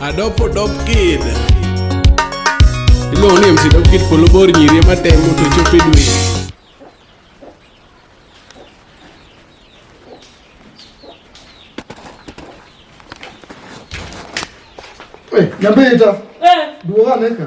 Adopo dop kid. Iluongo ni MC dop kid polo bor nyiri ema temo to chopo e dwe. Nyambita. Eh. Duoga neka.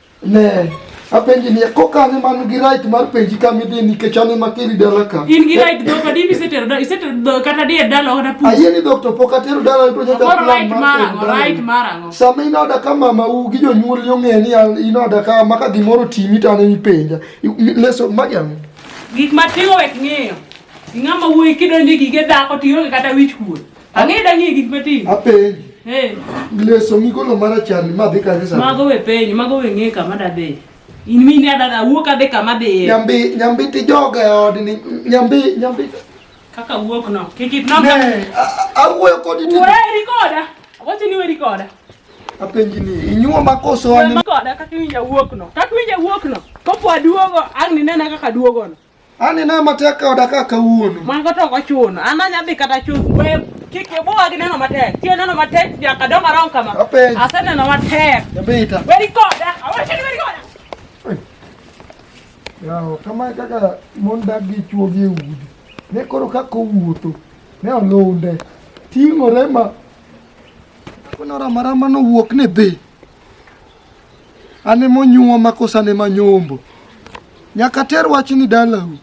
Ne, apenji ni ko kane man gi right mar penji ka midhi nikech an ema kiri dala ka. In gi right dho kadi mi setero da isetero dho kata di dala ona pu. Ayie ni doctor pok atero dala to nyaka plan right marango, right marango. Sama inoda ka mama u gi jonyuol yo ng'e ni an inoda ka maka gimoro timi to an ipenja. Leso majam. Gik matiwo wek ng'eyo. Ing'ama wuoyi kidonje gige dhako tiyo kata wich kuot. Ang'e dang'e gik matin. Apenji. Eh. Leso migolo mara chani ma dhi kanye sani? Mago we penji, mago we ng'e kama dadhi. In mine adada wuok adhi kama dhiye. Nyambi, nyambi ti joga e od ni. Nyambi, nyambi. Kaka wuok no. Kikit no. Ne, awuoyo kodi ni. Weri koda. Wacho ni weri koda. Apenji ni, inyuo makoso wani. Weri koda kaka iwinja wuok no. Kaka iwinja wuok no. Kopo aduogo, ang' ni nena kaka duogo no. An ina matek ka oda ka kawuono. Mwango to ochuno. An anya dhi kata chuth. We kik ibuwa gi neno matek. Tiyo neno matek nyaka dong arom kama. Apenj. Aseneno matek. Jabita. Weri koda. Awacho ni weri koda. Yawo, kama e kaka mon dak gi chwo gi e udi. Ne koro kaka owuotho. Ne olunde. Ting'ore ma. Kunora marama nowuok ni dhi. An emonyuoma koso an ema nyombo. Nyaka ter wachni dalau.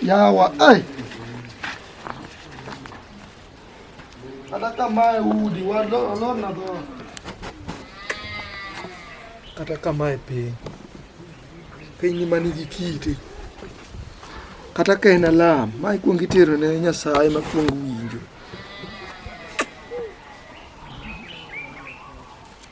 Yawa, ai. Kata kamae udi, walorna dhoot. Kata kamae piny. Piny ma nigi kite. Kata ka en alam, ma ikwong itero ne Nyasaye ma kwong winjo.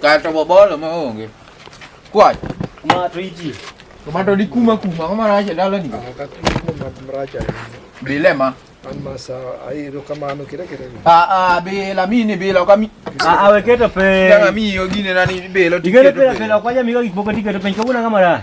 Kato bobolo ma onge. Kwach. Ma to iji. To ma to di kuma kuma ma racha dala ni. Ka kuma ma racha. Bilema. An ma sa ai ro kama no kire kire. Ah ah be la mi ni be la kami. Ah ah we keto pe. Ya mi yo gine na ni be lo. Digere pe la pe la kwa ya mi ga gik moko tiketo pe ko una kamara.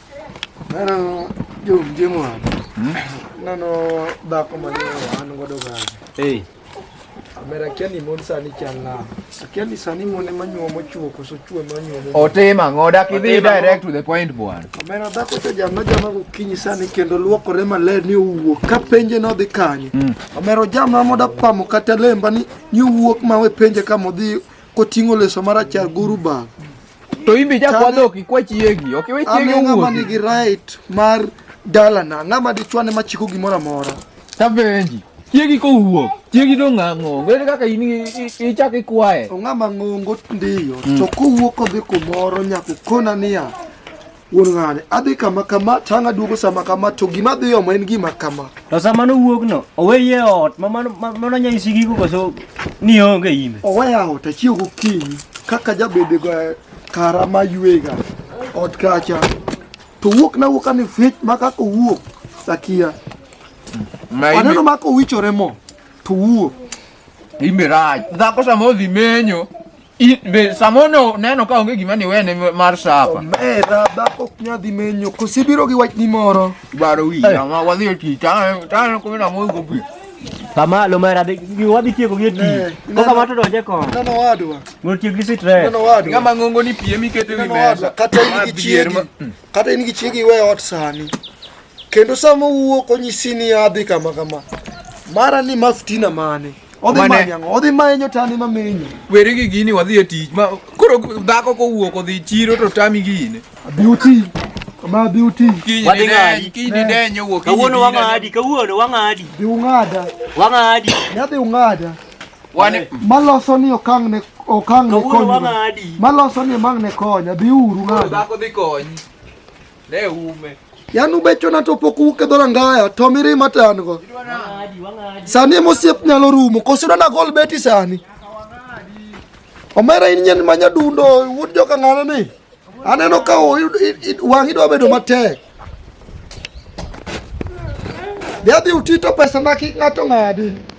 Nano jomje mwana. Hmm? Nano dhako mane wan godo ga. Hey. Mera kia ni mon sani chal na. Kia ni sani mon ema nyuomo chuo koso chuo ema nyuomo. Otima ng'o dak idhi direct to the point bwana. Mera dhako to jama jama gokinyi sani kendo luokore maler ni owuok ka penje no dhi kanye. Hmm. Omero jama moda pamo kata lemba ni ni owuok ma we penje ka modhi koting'o leso marachar guru bag. to imbe ja kwa dhok ikwa chiegi ok iwe chiegi owuok ng'ama nigi right mar dalana ng'ama dichwane machiko gimoro amora tabenji chiegi kowuok chiegi dong' ang'ongo ere kaka in ichak ikwaye ong'ama ng'ongo ndiyo to kowuok odhi kumoro nyaka okona niya Wuon ng'ane, adhi kama kama, tang' aduogo sama kama, to gima adhi omo en gima kama. To sama nowuogno, oweye e ot ma mano ma- mano nyanyisi gigo koso ni onge imbe. Oweya ot achiew gokinyi kaka jabede go kara ma ywega ot kacha. To wuok na wuok ni fit ma kaka owuok sakia. Ma Aneno imbe, ma kowichore mo to wuok. imbe rach. Dhako sama odhi menyo, I- Be samono neno ka onge gima ni wene mar sapa. Omera dhako ok nyal dhi menyo. Kosi biro gi wachni moro. Baro wi ma wadhi e tich. Taneno taneno kuma na moyo go pi. Kamalo mera dhi gi- wadhi tieko gi e tich. Eh, Koka neno. mato donje kon. Neno wadwa. Mondo tiek gi sitre. Neno wadwa. Ng'ama ng'ongo ni piem ikete wi Neno mesa. wadwa. Kata in Ma gi bier chiegi. ma- Kata in gi chiegi iwe ot sani. Kendo sama owuok onyisi ni adhi kama kama. Mara ni maftina mane. Odhi Mane- manyo ang'o? Odhi manyo tani ma menyo. Weri gi gini wadhi e tich ma koro dhako kowuok odhi chiro to tami gini. Beauty. Kama beauty. Kiny Wadhi ni ng'adi. deny, kiny ni deny owuok. kiny Kawuono ni deny. wang'adi, kawuono wang'adi, Dhi ung'ada. wang'adi. Ne adhi ung'ada. Wane maloso ni okang ne okang ne konyo. Maloso ni mang ne konya bi uru ng'ado. Dhako dhi kony. Ne ume. Yan ubecho na to pok uke dora ngaya to miri matan go. Sani mosiep nyalo rumo kosiro na gol beti sani. Omera in nyen manya dundo wuod joka ng'ana ni. Aneno ka wang' idwa bedo matek. Dhi adhi utito pesa ma kik ng'ato ng'adi.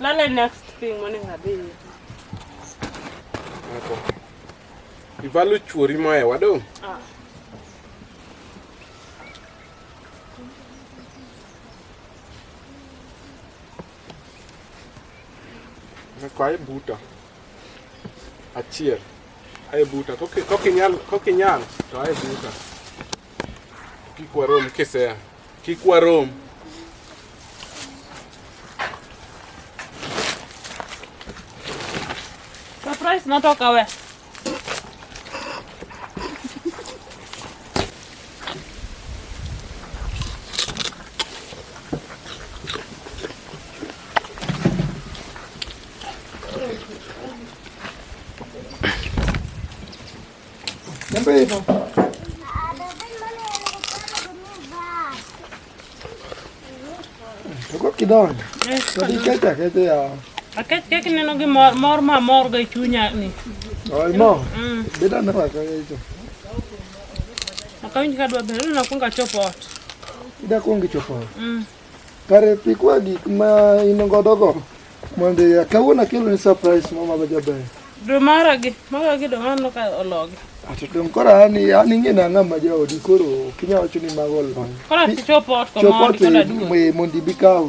Lala next thing morning adhi. Ako. Ivalo chuori mae wadong. Ah. Kwa ibuta. Achiel. Ae buta. Kokinyal, kokinyal, to ae buta. Kikwarom kisea. Kik warom. Surprise natoka we. Ne böyle yapalım? Toko kidonjo. Kodi keta kete ya. Aket kek neno gi mor mor ma mor ga chunya ni. Oi mo. Mm. Beda na ka yeto. Akawinj ka dwa bero na kunga chopo ot. Ida kungi chopo. Mm. Kare pikwa gik ma in godo go. Mwende ya kawuono kelo ni surprise mama ba jaber. Do mara gi, mara gi do mano ka ologi. Ato dong koro ani ani ng'e na ng'ama jaodi koro ok inyal wacho ni mago olony. Koro ati chopo ot ko Chopo mondi koda duogo. te mondi bi kaw.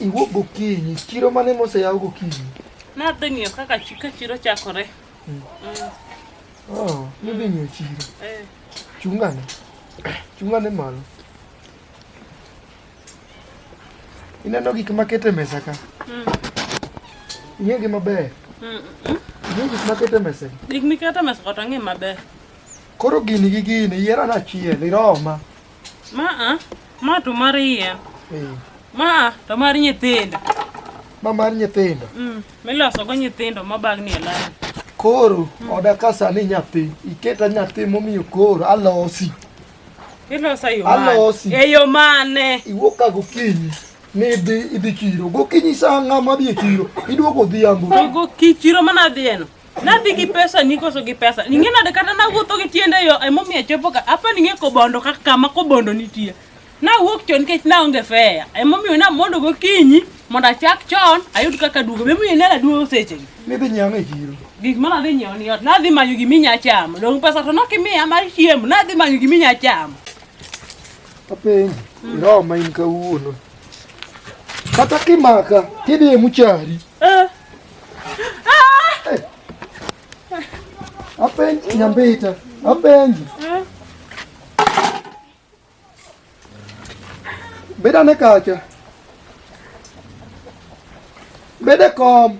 Iwuok gokinyi, chiro mane moseyaw gokinyi? Nadhi ng'iyo kaka ka chiro chakore. Hmm. Hmm. Oh, nidhi ng'iyo chiro. Eh. Chungane. Chungane malo. Ineno gik maket e mesa ka? Hmm. Ing'egi maber? Ing'e gik maket e mesa? Gik miket e mesa kata ng'e maber. Koro gini gi gini, yiero anachiel, iroma. Ma a, ma to mar yien. Eh. Ma a, to mar nyithindo. Ma mar nyithindo. Mm, miloso go nyithindo ma bagni e lain. Koro mm. oda ka sani nyathi, iketa nyathi momiyo koro alosi. Ilosa yo mane? Alosi. E yo mane? Iwuok ka gokinyi. Nidhi idhi chiro. Gokinyi saa ng'ama dhi e chiro. Iduogo odhiambo. Gokinyi chiro mana dhieno. Nadhi gi pesa ni koso gi pesa. Ning'e nade kata nawuotho gi tienda yo emomiyo achopo ka. Apa ning'e kobondo kaka kama kobondo nitie. Nawuok chon nikech naonge fea. Emomiyo namondo gokinyi mondo achak chon ayud kaka duogo. Emomiyo nena duogo seche gi. Nidhi nyiewo ang'o e chiro? Gik ma nadhi nyiewo ni ot. Nadhi manyo giminya chamo. Dong' pesa to nokimiya mar chiemo. Nadhi manyo giminya chamo. Apenji, iroma in kawuono. Kata kimaka, tidhi e muchari. Eh. Apenji nyambita. Apenji. Beda ne kacha. Bede kom.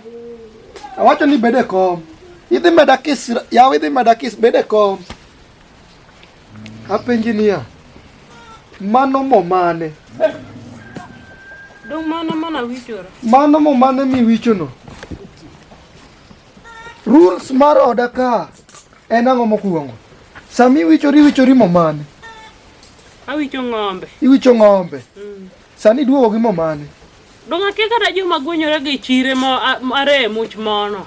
Awacho ni bede kom. Idhi meda kis, yaw idhi meda kis bede kom. Apenji niya, mano mo mane? Dong mano mana wichora. Mano mo mane miwichono? Rules mar oda ka en ang'o mokwongo? Sami wichori wichori mo mane? Awicho ng'ombe. Iwicho ng'ombe. Mm. Sani duogo gi mo mane? Dong akia kata joma gwenyore gi chire mo a- are e much mono.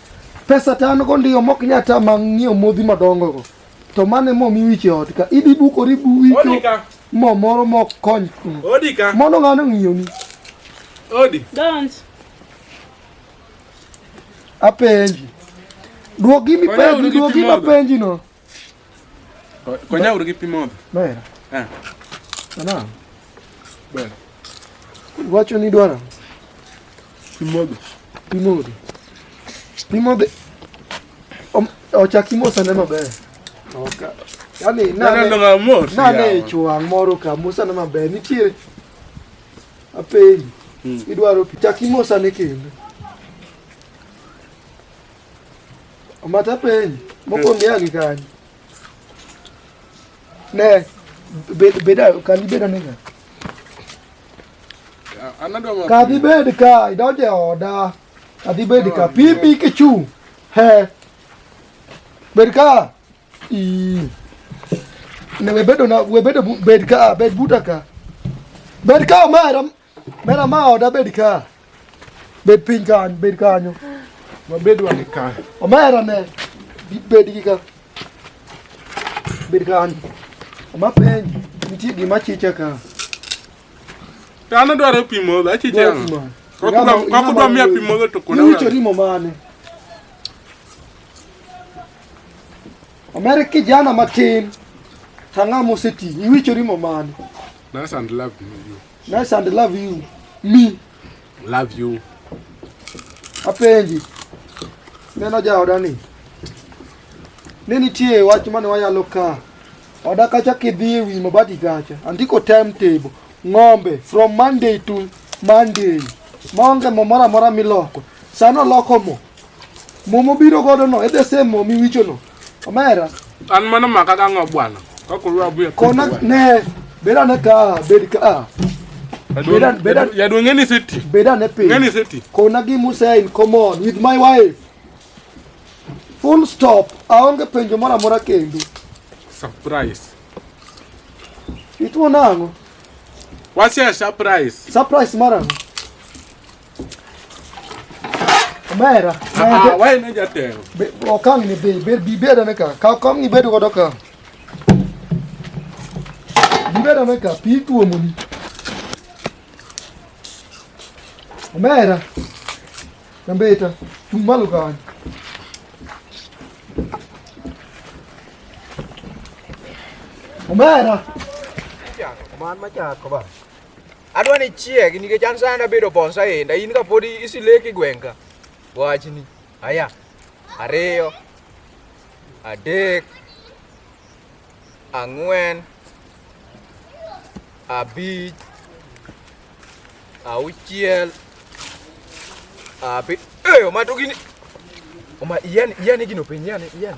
Pesa to an go ndiyo mok nya tama ng'iewo modhi madongo go. To mane mo mi wiche ot ka. Ibi bukori bu wicho. Odika. Mo moro mok kony. Odika. Mono ng'ano ng'iyo ni. Odi. Don't. Apenji. Duogi mi penji, duogi ma penji no. Konya uru gi pi modho. Ber. Eh. Ana. Ber. Wacho ni dwara. Pi modho. Pi modho. Pi modho. Ochaki mosa ne maber. Oka. Yaani nane. Nane mos. Nane chuang moro ka mosa ne maber. Nitiere. Apenji. Hmm. Idwaro pi. Chaki mosa ne kendo. Omatapeni, mokwongo ya gi kanyo. Ne, bed, bed, kani bed anega. Kadhi bed ka, idonje oda. Kadhi bed ka, pimi kichu. He. Bed ka. Ii. Ne webedo na, webedo bed ka, bed buta ka. Bed ka omera. Mera ma oda bed ka. Bed piny kanyo, bed kanyo. Wabed wan ka. Omera ne. Bed gi ka. Bed kanyo. Ma piny. Nitie gima chicha ka. Tano dwaro pi modho, achicha. Kakudwa miya pi modho to kuna. Niucho rimo mane. Omera kijana matin. Tang'ama oseti. Iwicho rimo mane. That's and love you. Nice and love you. Me. Love you. Apenji. Neno jaoda ni. Ne nitie wach mane wayalo ka. Oda kacha kidhi e wi mabati kacha. Andiko timetable. Ng'ombe from Monday to Monday. Maonge mo moro amora miloko. Sano loko mo. Mo mobiro godo no, e the same mo miwicho no. Omera. An mano maka ka ng'o bwana. Ka koro abu ya. Kona ne beda ne ka bed ka. Ah. Beda beda ya do ngeni seti. Beda ne pe. Ngeni seti. Kona gi Musa in common with my wife. Full stop. Aonge penjo mora mora kendo. Surprise. Itu nango. What's your surprise? Surprise mara. Omera. Ah, why no jatelo? Be okang ni be be bi be dane ka. Ka kom ni bedo godo ka. Bi be dane ka pi tuo muni. Omera. Nambeta. Tumalu ka. Omera. Man ma cha ko ba. Adwa ni chieg nikech an sani abedo bonsa enda in kapod isileki gweng'ka. Wachni. Aya. Ariyo. Adek. Ang'wen. Abich. Auchiel. Abi. Eyo matugini. Oma iyan iyan gino penyi yani iyan.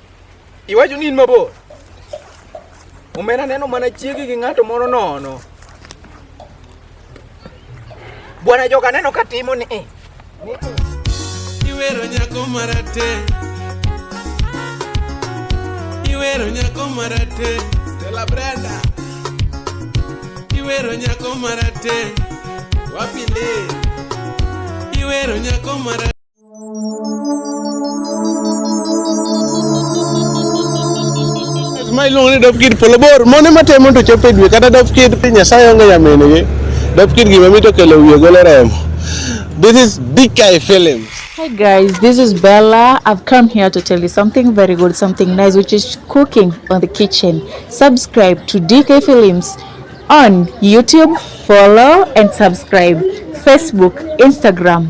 Iwacho ni in mabor. Omera neno mana chiegi gi ng'ato moro nono. Bwana joka neno ka timo ni. Eh, ni eh. Iwero nyako marate. Iwero nyako marate. Stella Brenda. Iwero nyako marate. Wapi le? Iwero nyako marate. ma iluongo ni dop kid polo bor mone matemo to chopo e dwe kata dop kid nyasaye onge nyaminigi dop kid gima mito kelo wiye golo remo this is big guy films Hi guys, this is Bella. I've come here to tell you something very good, something nice, which is cooking on the kitchen. Subscribe to DK Films on YouTube, follow and subscribe, Facebook, Instagram,